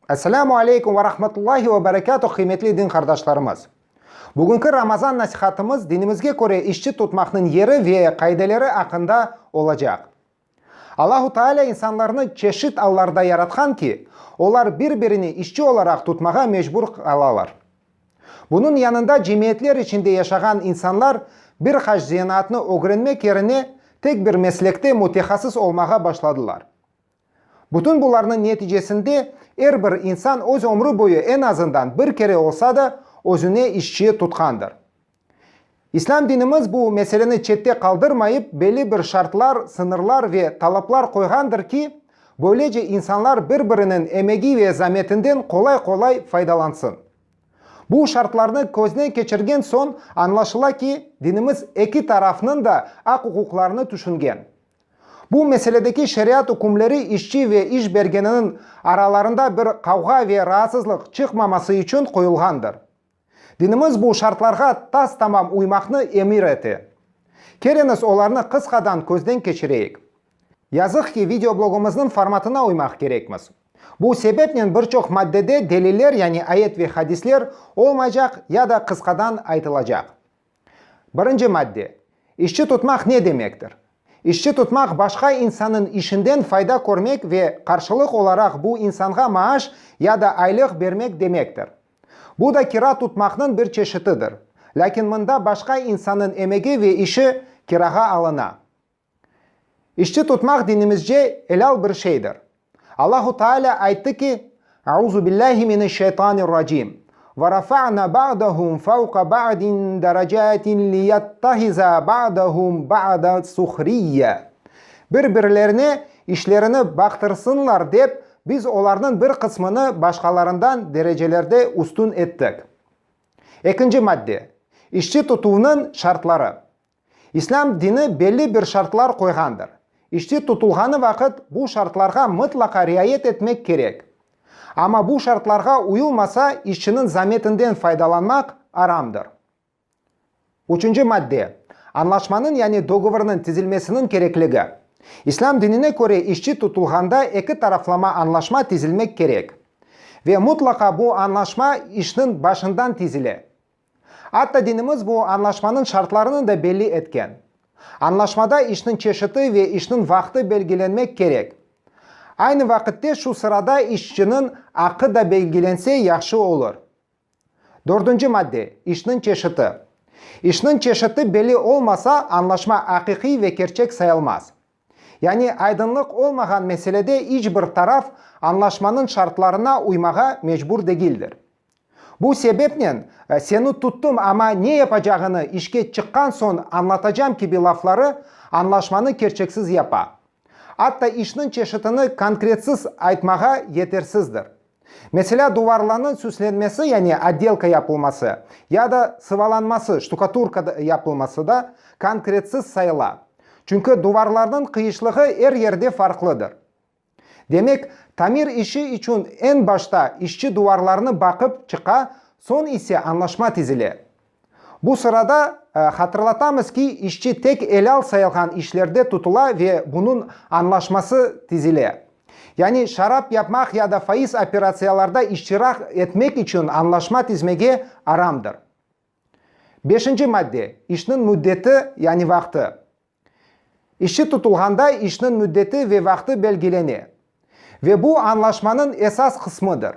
Esselamu aleykum ve rahmetullahi ve berekatuh qıymetli din qardaşlarımız! Bugünki Ramazan nasihatımız dinimizge köre işçi tutmaqnıñ yeri ve qaideleri aqqında olacaq. Allahu Taalâ insanlarnı çeşit allarda yaratqan ki, olar bir-birini işçi olaraq tutmağa mecbur qalalar. Bunıñ yanında cemiyetler içinde yaşağan insanlar bir qaç zenaatnı ögrenmek yerine tek bir meslekte mütehassıs olmağa başladılar. Bütün bularnıñ neticesinde er bir insan öz ömrü boyu en azından bir kere olsa da özüne işçi tutqandır. İslâm dinimiz bu meseleni çette qaldırmayıp, belli bir şartlar, sıñırlar ve talaplar qoyğandır ki, böylece insanlar bir-biriniñ emegi ve zametinden qolay-qolay faydalansın. Bu şartlarnı közden keçirgen soñ añlaşıla ki, dinimiz eki tarafnıñ da aq-uquqlarını tüşüngen. Bu meseledeki şeriat ükümleri işçi ve iş bergeniniñ aralarında bir qavğa ve raatsızlıq çıqmaması içün qoyulğandır. Dinimiz bu şartlarğa tas-tamam uymaqnı emir ete. Keliñiz, olarnı qısqadan közden keçireyik. Yazıq ki, videoblogımıznıñ formatına uymaq kerekmiz. Bu sebepnen bir çoq maddede deliller, yani ayet ve hadisler, olmaycaq ya da qısqadan aytılacaq. Birinci madde, İşçi tutmaq ne demektir? İşçi tutmaq başqa insannıñ işinden fayda körmek ve qarşılıq olaraq bu insanğa maaş ya da aylıq bermek demektir. Bu da kira tutmaqnıñ bir çeşitidir. Lâkin mında başqa insannıñ emegi ve işi kirağa alına. İşçi tutmaq dinimizce elâl bir şeydir. Allahu Teala ayttı ki, Euzubillahi mineşşeytanirracim, Ve rafa'na ba'dahum fevqa ba'din derecatin liyettehiza ba'dahum ba'da suhriyye, Bir-birlerine işlerini baqtırsınlar dep Biz olarnıñ bir qısmını başqalarından derecelerde üstün ettik. Ekinci madde, işçi tutuvnıñ şartları. İslâm dini belli bir şartlar qoyğandır. İşçi tutulğanı vaqıt bu şartlarğa mıtlaqa riayet etmek kerek. Amma bu şartlarğa uyulmasa işçiniñ zametinden faydalanmaq aramdır. Üçünci madde, Añlaşmanıñ yani dogovornıñ tizilmesiniñ kerekligi. İslâm dinine köre işçi tutulğanda eki taraflama añlaşma tizilmek kerek. Ve mutlaqa bu añlaşma işniñ başından tizile. Atta dinimiz bu añlaşmanıñ şartlarını da belli etken. Añlaşmada işniñ çeşiti ve işniñ vaqtı belgilenmek kerek. Aynı vaqitte şu sırada işçiniñ aqı da belgilense yahşı olur. Dördünci madde, işniñ çeşiti. İşniñ çeşiti belli olmasa, añlaşma aqiqiy ve kerçek sayılmaz. Yani aydınlıq olmağan meselede iç bir taraf añlaşmanıñ şartlarına uymağa mecbur degildir. Bu sebepnen seni tuttum ama ne yapacağını işke çıqqan soñ añlatacam kibi lafları añlaşmanı kerçeksiz yapa. Atta işniñ çeşitini konkretsiz aytmağa yetersizdir. Meselâ, duvarlarnıñ süslenmesi, yani odelka yapılması, ya da sıvalanması, ştukaturka yapılması da konkretsiz sayıla, çünki duvarlarnıñ qıyışlığı er yerde farqlıdır. Demek, tamir işi içün eñ başta işçi duvarlarnı baqıp çıqa, soñ ise añlaşma tizile. Bu sırada hatırlatamız ki, işçi tek elâl sayılğan işlerde tutula ve bunıñ añlaşması tizile. Yani şarap yapmaq ya da faiz operatsiyalarda iştiraq etmek içün añlaşma tizmege aramdır. Beşinci madde, işniñ müddeti, yani vaqtı. İşçi tutulğanda işniñ müddeti ve vaqtı belgilene ve bu añlaşmanıñ esas qısmıdır.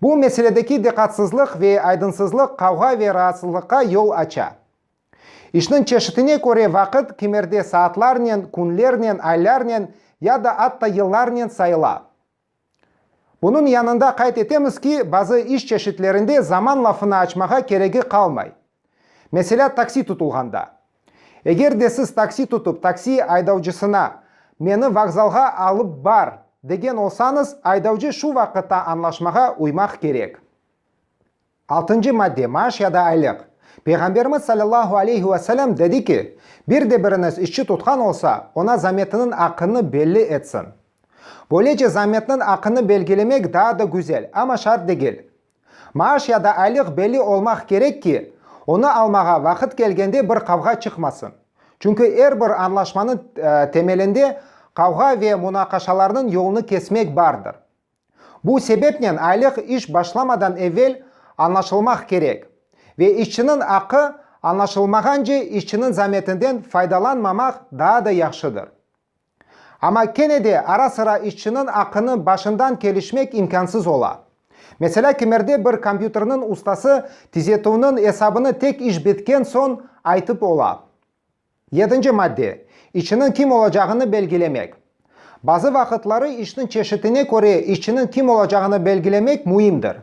Bu meseledeki diqqatsızlıq ve aydınsızlıq qavğa ve raatsızlıqqa yol aça. İşniñ çeşitine köre vaqıt kimerde saatlarnen, künlernen, aylarnen ya da atta yıllarnen sayıla. Bunıñ yanında qayd etemiz ki, bazı iş çeşitlerinde zaman lafını açmağa keregi qalmay. Meselâ, taksi tutulğanda. Eger de siz taksi tutıp taksi aydavcısına, Meni vokzalğa alıp bar! degen olsañız, aydavcı şu vaqıtta añlaşmağa uymaq kerek. Altıncı madde, maaş ya da aylıq. Peyğamberimiz salâllahu aleyhi ve selem dedi ki, Bir de biriñiz işçi tutqan olsa, oña zametiniñ aqını belli etsin. Böylece zametniñ aqını belgilemek daa da güzel, amma şart degil. Maaş ya da aylıq belli olmaq kerek ki, onı almağa vaqıt kelgende bir qavğa çıqmasın. Çünki er bir añlaşmanıñ temelinde qavğa ve munaqaşalarnıñ yolunı kesmek bardır. Bu sebepnen aylıq iş başlamadan evel añlaşılmaq kerek ve işçiniñ aqqı añlaşılmağance işçiniñ zametinden faydalanmamaq daa da yahşıdır. Amma kene de ara-sıra işçiniñ aqqını başından kelişmek imkânsız ola. Meselâ, kimerde bir kompyuterniñ ustası tizetüvniñ esabını tek iş bitken soñ aytıp ola. Yedinci madde, İşçiniñ kim olacağını belgilemek. Bazı vaqıtları işniñ çeşitine köre işçiniñ kim olacağını belgilemek müimdir.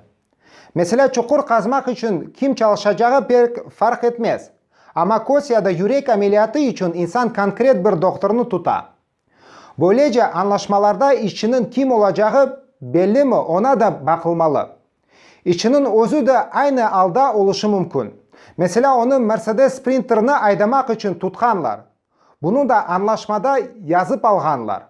Meselâ, çuqur qazmaq içün kim çalışacağı pek farq etmez, amma köz ya da yürek ameliyatı içün insan konkret bir doktornı tuta. Böylece, añlaşmalarda işçiniñ kim olacağı bellimi, oña da baqılmalı. İşçiniñ özü de aynı alda oluşu mümkün. Meselâ, onı Mersedes Sprinterni aydamaq içün tutqanlar. Bunı da añlaşmada yazıp alğanlar.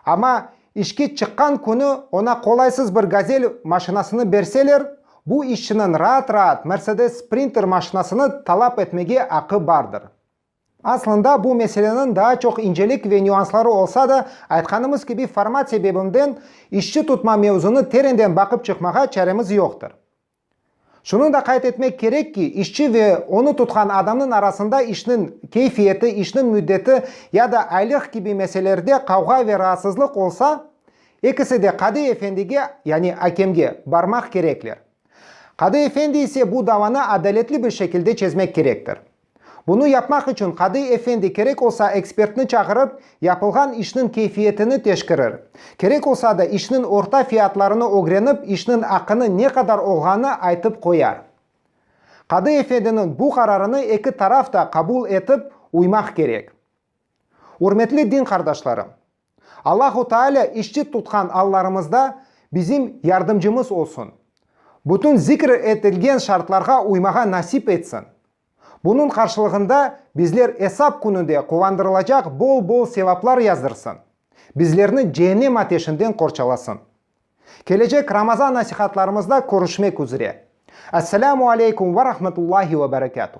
Amma işki çıqqan künü oña qolaysız bir Gazel maşinasını berseler, bu işçiniñ raat-raat Mersedes Sprinter maşinasını talap etmege aqqı bardır. Aslında, bu meseleniñ daa çoq incelik ve nüansları olsa da, aytqanımız kibi, format sebebimden, işçi tutma mevzunı terenden baqıp çıqmağa çaremiz yoqtır. Şunı da qayd etmek kerek ki, işçi ve onı tutqan adamnıñ arasında işniñ keyfiyeti, işniñ müddeti ya da aylıq kibi meselelerde qavğa ve raatsızlıq olsa, ekisi de qadı efendige, yani akemge, barmaq kerekler. Qadı efendi ise bu davanı adaletli bir şekilde çezmek kerektir. Bunı yapmaq içün qadı efendi kerek olsa ekspertni çağırıp, yapılğan işniñ keyfiyetini teşkirir. Kerek olsa da işniñ orta fiyatlarını ögrenip, işniñ aqını ne qadar olğanı aytıp qoyar. Qadı efendiniñ bu qararını eki taraf da qabul etip, uymaq kerek. Ürmetli din qardaşlarım! Allahu Taalâ işçit tutqan allarımızda bizim yardımcımız olsun, bütün zikr etilgen şartlarğa uymağa nasip etsin. Bunıñ qarşılığında bizler Esap kününde quvandırılacaq bol-bol sevaplar yazdırsın, bizlerni Cehennem ateşinden qorçalasın. Kelecek Ramazan nasihatlarımızda körüşmek üzre. Esselamu aleykum ve rahmetullahi ve berekâtuh.